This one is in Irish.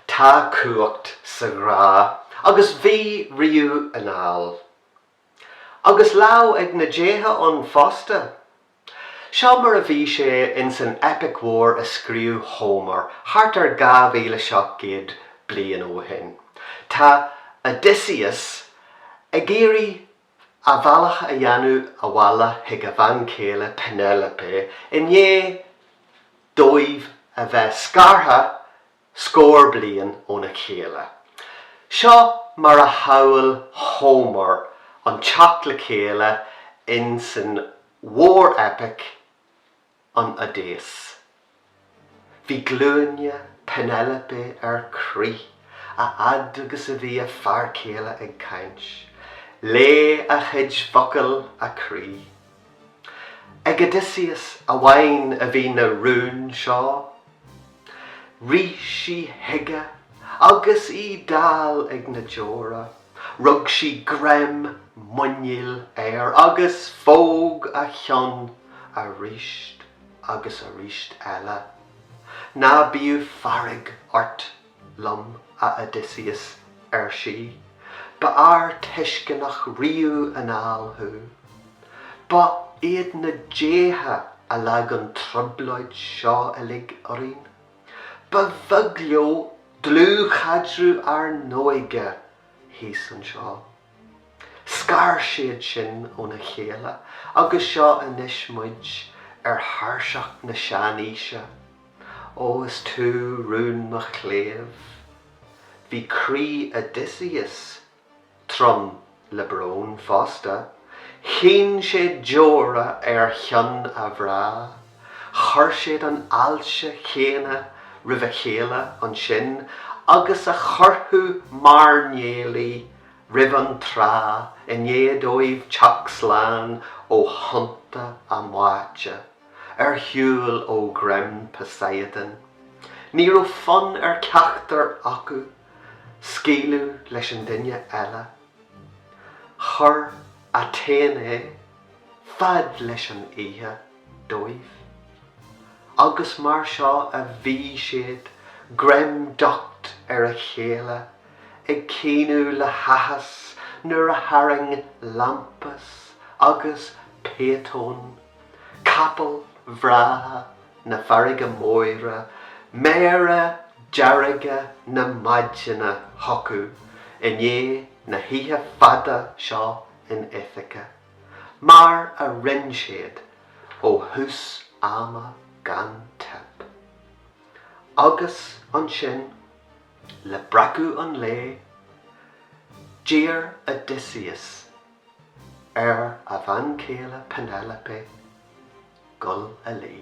Tá cumhacht sa ghrá agus bhí riamh anall. Agus lámh ag na déithe ann fosta. Seo mar a bhí sé in san eipic mhór a scríobh Homer thart ar 2,700 bliain ó shin. Tá Odysseus ag iarraidh a bhealach a dhéanamh abhaile chuig a bhean chéile Penelope i ndiaidh dóibh a bheith scartha Scór bliain óna chéile. Seo mar a shamhlaigh Homer an teacht le chéile in san mhór-eipic an Odaisé. Bhí glúine Penelope ar crith a fhad agus a bhí a fear céile ag caint. Leáigh a chuid focal a croí. Ag Odysseus amháin a bhí na rúin seo. Rith sí chuige agus í dall ag na deora. Rug sí greim muiníl air agus phóg a cheann aríst agus aríst eile. Ná bíodh fearg ort! liom, a Odysseus, ar sí. Ba fhear tuisceanach riamh anall thú. Ba iad na déithe a leag an trioblóid seo uilig orainn. Ba bheag leo dlúthchaidreamh ár n-óige thíos anseo. Scar siad sinn óna chéile agus seo anois muid ar thairseach na sean-aoise. Ó is tú rún mo chléibh. Bhí croí Odysseus trom le brón fosta. Chaoin sé deora ar cheann a ghrá. Chuir siad an fháilte chéanna roimh a chéile ansin agus a chuirfeadh mairnéalaigh roimh an trá i ndiaidh dóibh teacht slán ó thonnta a mbáite. Ar shiúl ó ghreim Poseidon, ní raibh fonn ar cheachtar acu scaoileadh leis an duine eile. Chuir Athene fad leis an oíche dóibh agus mar seo a bhí siad, greim docht ar a chéile, ag caoineadh le háthas nuair a tharraing Lampus agus Phaethon, Capaill bhreátha na farraige móire, méara dearga na maidine chucu i ndiaidh na hoíche fada seo in Ithaca, mar a rinne siad ó thús ama gan teip. Agus ansin, le breacadh an lae, d'iarr Odysseus ar a bhean chéile Penelope gul a luí.